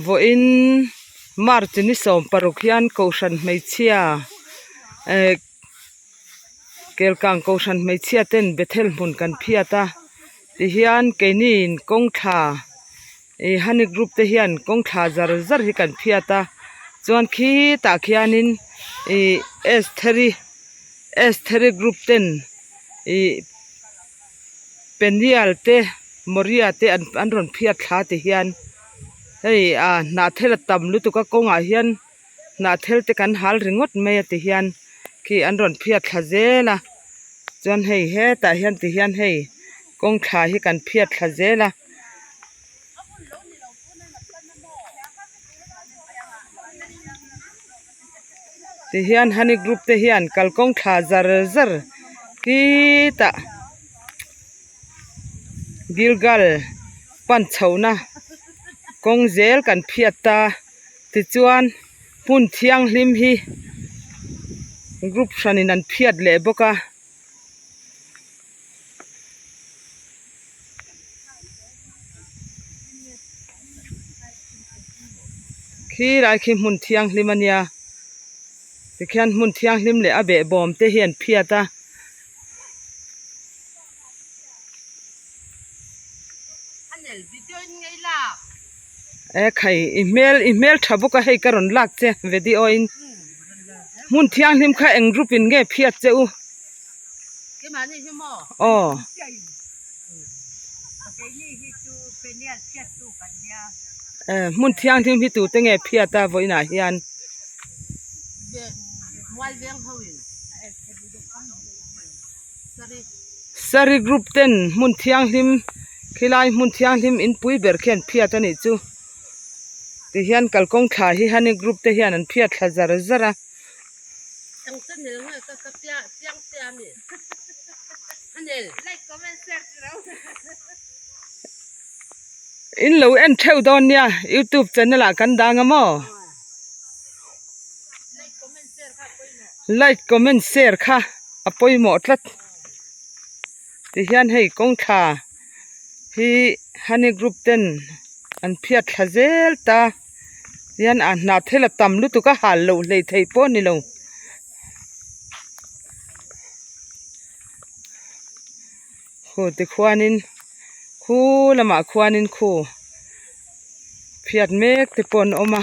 vawiin March ni sawm paruk hian Kohhran hmeichhia eh Kelkang Kohhran hmeichhia ten Bethel hmun kan phiat a tihian keinin kawngthla ih Hani group te hian kawngthla zar zar hi kan phiat a chuan khitah khianin ih Estheri Estheri group ten ih-- Peniel te Moria te an rawn phiat thla te hian hei ah hnah thel a tam lutuk a kawngah hian hnah thel te kan hal ringawt mai a ti hian khi an rawn phiat thla zel a chuan hei hetah hian ti hian hei kawngthla hi kan phiat thla zel a. tihian honey group te hian kalkawng thla zar zar hi ta gilgal pan chho na kawng zel kan phiat ta tichuan hun thianghlim hi group hran in an phiat leh bawk a. Khi lai khi hmun thianghlim a nia tikhian hmun thianghlim leh a beh bawm te hi an phiat a. e khai i hmel i hmel tha bawk a hei ka rawn lak che video a in hmun thianghlim kha eng group in nge phiat che u aw e hmun thianghlim hi tute nge phiat a vawiinah hian Sari group ten hmun thianghlim khilai hmun thianghlim inpui ber khi an phiat anih chu tihian kalkawng thla hi hani group te hian an phiat thla zar zar a in lo en theuh dawn nia youtube channel ah kan dang a maw. Like comment share kha a pawimawh tlat tihian hei kawng thla hi honey group ten an phiat thla zel ta hian a hnah thel a tam lutuk a hal loh hlei thei pawh ni lo Khu tikhuanin khu lamah khuanin khu phiat mek te pawh an awm a.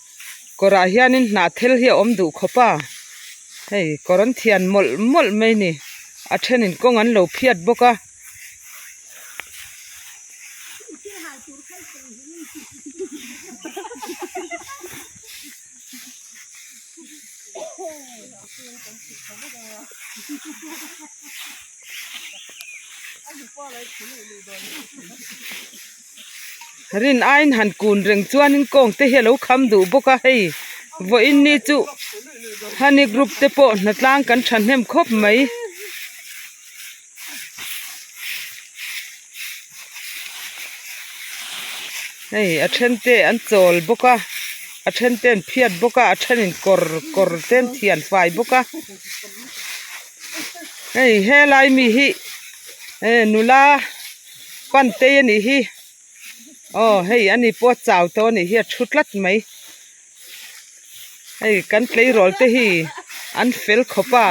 kawrah hianin hnah thel hi a awm duh khawp a hei kawr an thian mawlh mawlh mai ni a thenin kawng an lo phiat bawk a. rin aiin han kun reng chuanin kawng te hi a lo kham duh bawk a hei vawiin ni chu honey group te pawh hna tlang kan thahnem khawp mai. Hei a then te an chawl bawk a a then te an phiat bawk a a thenin kawr kawr te an thian fai bawk a hei helai mi hi nula. Pantei a nih hi. Aw hei a ni pawh a chau tawh a nih hi a thu tlat mai. Hei kan tleirawl te hi an fel khawp a.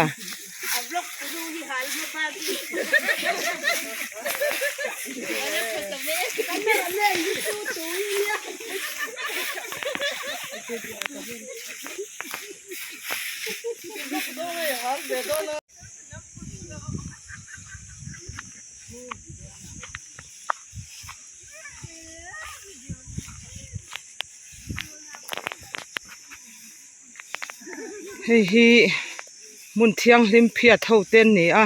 hei hi hmun thianghlim phiat ho te an ni a.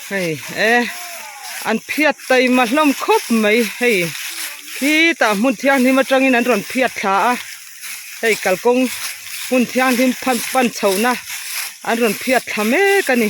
hei e an phiat taima hlawm khawp mai hei khi tah hmun thianghlim atangin an rawn phiat thla a hei kalkawng hmun thianghlim pan pan chhohna an rawn phiat thla mek a ni.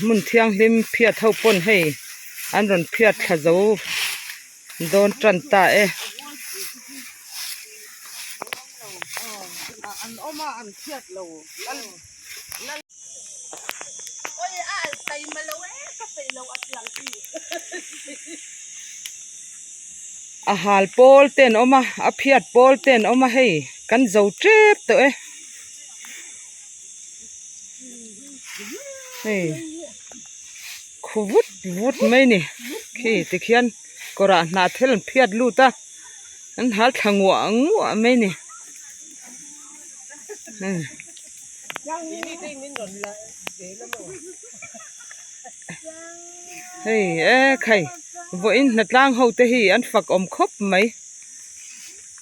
hmun thianghlim phiat ho pawn hei an rawn phiat thla zo dawn tan ta e. a hal pawl te an awm a a phiat pawl te an awm a hei kan zo tep tawh e. hei khu vut vut mai ni khi tikhian kawrah hnahthel an phiat lut a an ha thla nguah nguah mai ni hmm hei ekhei vawiin hnatlang ho te hi an fak awm khawp mai.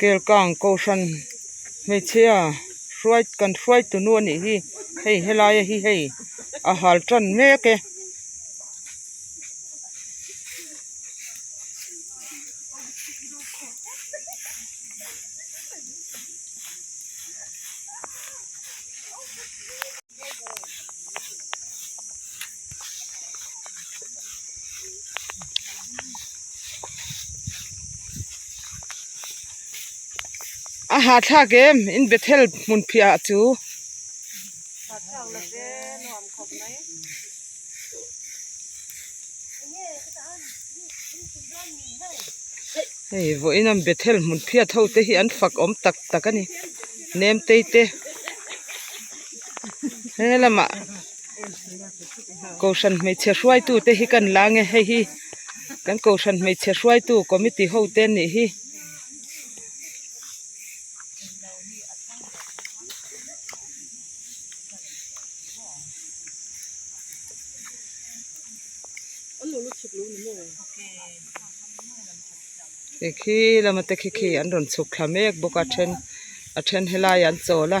kelkang kohhran hmeichhia hruai kan hruai tu nu a nih hi hei helai a hi hei a hal tan mek e. a hahthlak em in bethel hmun phiahah chu hahthlak la ve nuam khawp mai. Hei vawh in an bethel hmun phiat ho te hi an fak awm tak tak a ni nem tei te. he lamah kohhran hmeichhe hruaitu te hi kan la ang nge hei hi kan kohhran hmeichhe hruaitu committee ho te an nih hi khi khi lama te khi khi an rawn chhuk thla mek bawk a a then a then helaiah an chawl a.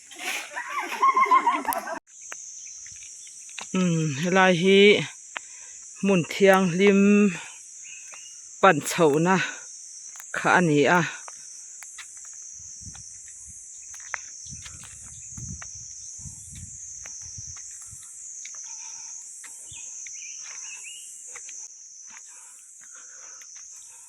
helai hi hmun thianghlim pan chhoh na kha a ni a.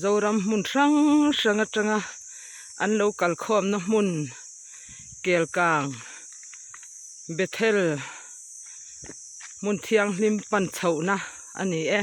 Zoram hmun hrang hrang atanga an lo kalkhawmna hmun kelkang bethel hmun thianghlim pan chhohna a ni e.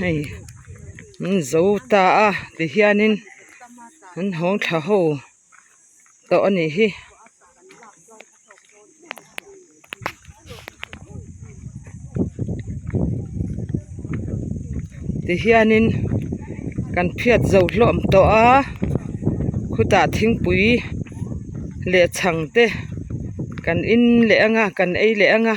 hei an zo ta a tihianin an hawng tha ho. tawh a nih hi. Tihianin kan phiat zo hlawm tawh a, khutah thingpui leh chhang te kan in leh ang a, kan ei leh ang a.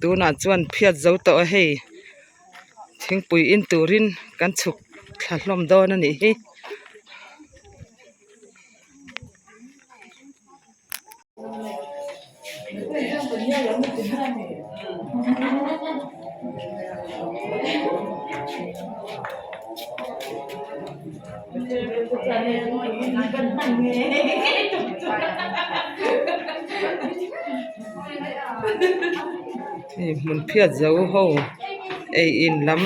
tunah chuan phiat zo tawh a hei thingpui in turin kan chhuk thla hlawm dawn a nih hi. hei hmun phiat zo ho ei in lam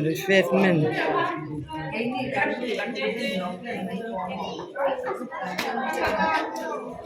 refreshment --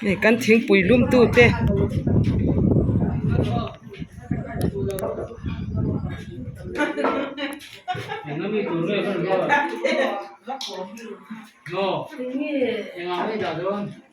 hei kan thingpui lumtu te